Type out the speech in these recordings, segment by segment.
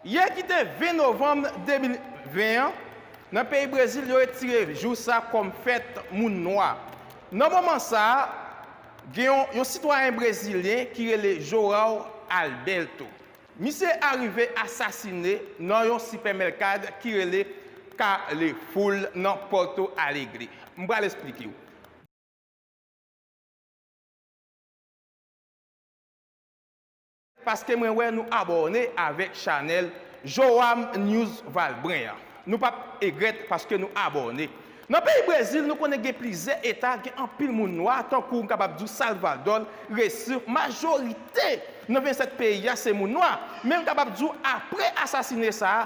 Yè ki te 20 novanm 2020 an, nan peyi Brezil yo retire jou sa kòm fèt moun nwa. Nan moman sa, gen yon sitwayen brezilyen ki rele João Alberto. Misye arive asasine nan yon sipèmèlkad ki rele Carrefour nan Porto Alegre. M pral esplike w. Paske mwen wè nou abòne avèk chanèl Joam News Valbrun an. Nou pap egrèt paske nou abòne. Nan peyi Brezil, nou konnen gen plizyè eta gen anpil moun nwa, tankou m kapab di w Salvador, Recife, majorite nan 27 peyi a se moun nwa. Men m kapab di w apre asasine sa a,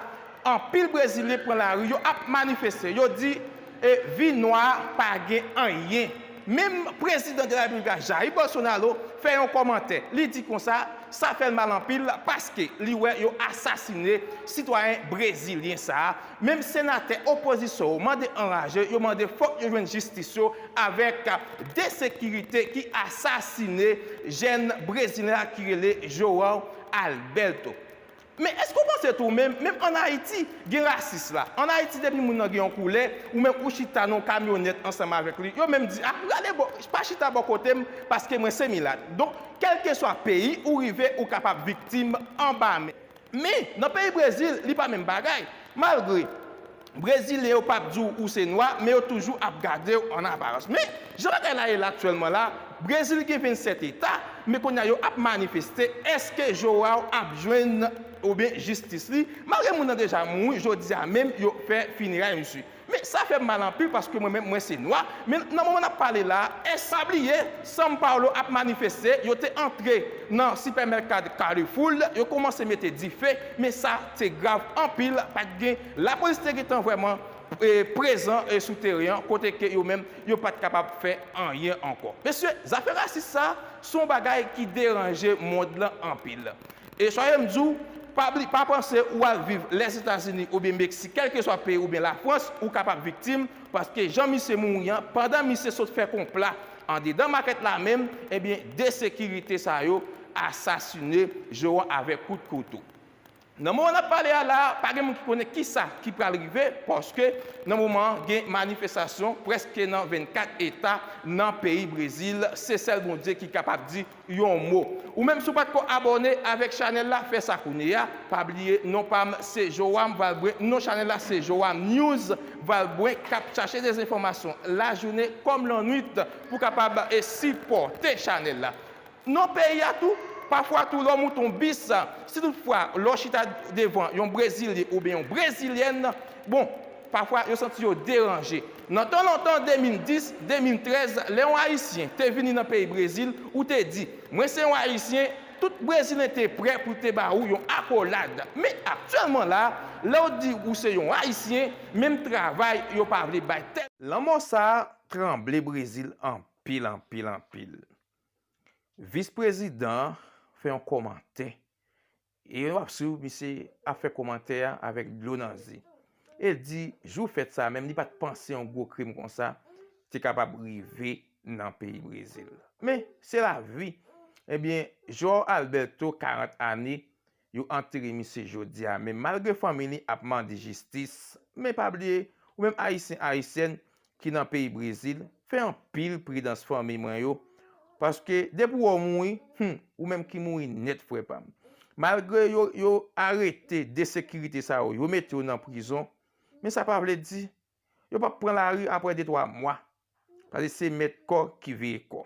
anpil brezilyen pran lari yo ap manifeste, yo di e vi nwa a pa gen anyen. Menm prezidan de la repiblik la Jair Bolsonaro fè yon kòmantè, li di konsa sa fè l mal anpil paske li wè yo asasine sitwayen brezilyen sa a, Menm senatè opozisyon yo mande anraje, yo mande fòk yo jwenn jistis yo avèk de sekirite ki asasine jèn brezilyen la ki rele João Alberto. Men èske ou panse tou menm, menm an Ayiti gen rasis la? An Ayiti depi moun nan gen yon koulè, ou menm ou chita nan yon kamyonèt ansanm avèk li, yo menm di a, gade bò, pa chita bò kote m paske mwen se milat. Donk kèlkeswa peyi ou rive ou kapab viktim anba men. Men, nan peyi Brezil, li pa menm bagay. Malgre, Brezilyen yo pap di w ou se nwa, men yo toujou ap gade w an aparans. Men, jan bagay la ye la aktyèlman la, Brezil gen 27 eta, men kounye a yo ap manifeste, èske João ap jwenn, oubyen jistis li, malgre moun nan deja mouri, jodi a menm yo fè fineray misye. Men sa fèm mal anpil paske mwen menm mwen se nwa, men nan moman nap pale la a è sa bliye Sam Paulo ap manifeste yo te antre nan sipèmèkad Carrefoul yo komanse mete dife men sa te grav anpil pat gen lapolis te gentan vrèman prezan sou teren an kote ke yo menm yo pat kapab fè anyen ankò. Mesye zafè rasis sa son bagay ki deranje mond lan anpil. E soye m di w, pa bli, pa panse ou al viv Lèzetazini oubyen Meksik kèlkeswa peyi oubyen Lafrans ou kapab viktim paske jan misye mouri an pandan misye sot fè konpla andedan makèt la menm ebyen 2 sekirite sa yo asasine Joe an avèk kout kouto. Nan moman n ap pale a la a pa gen moun ki konnen kisa ki pral rive paske nan moman an gen manifestasyon prèske nan 24 eta nan peyi Brezil se sèl Bondye ki kapab di yon mo. Ou menm si w pat ko abòne avèk chanèl la fè sa kounyeya, pa bliye non pam se Joam Valbrun non chanèl la se Joam News Valbrun kap chache dezenfòmasyon lajounen kòm lannwit pou kapab sipòte chanèl la nan peyi a tou pafwa tou lè w moute yon bis si tout fwa lè w chita devan yon brezilyen oubyen yon brezilyèn bon Pafwa, yo santi yo deranje. Nan tan lontan, 2010, 2013, lè yon Ayisyen te vini nan peyi Brezil, ou te di, Mwen se yon Ayisyen, tout Brezilen te prè pou te ba ou yon akolad. Men, aktyèlman la, lè ou di ou se yon Ayisyen, menm travay yo pa vle bay. Lanmò sa a tranble Brezil anpil, anpil, anpil. Vis-prezidan an fè yon kòmantè E wap swiv misye ap fè komantè a avèk dlo nan zye. El di jou fèt sa menm li pat panse yon gwo krim konsa te kapab rive nan peyi Brezil. Men, se lavi. Ebyen, João Alberto 40 ane, yo antere misye jodi a men malgre fanmi li ap mande jistis, men pa bliye ou menm ayisyen ayisyèn ki nan peyi brezil fè anpil pridans fanmi mwen yo paske depi ou wè ou mouri humm ou menm ki mouri nèt frè pam malgre yo arete de sekirite sa yo yo mete yo nan prizon men sa pa vle di yo pap pran lari aprè de twa mwa paske se mèt kò ki veye kò.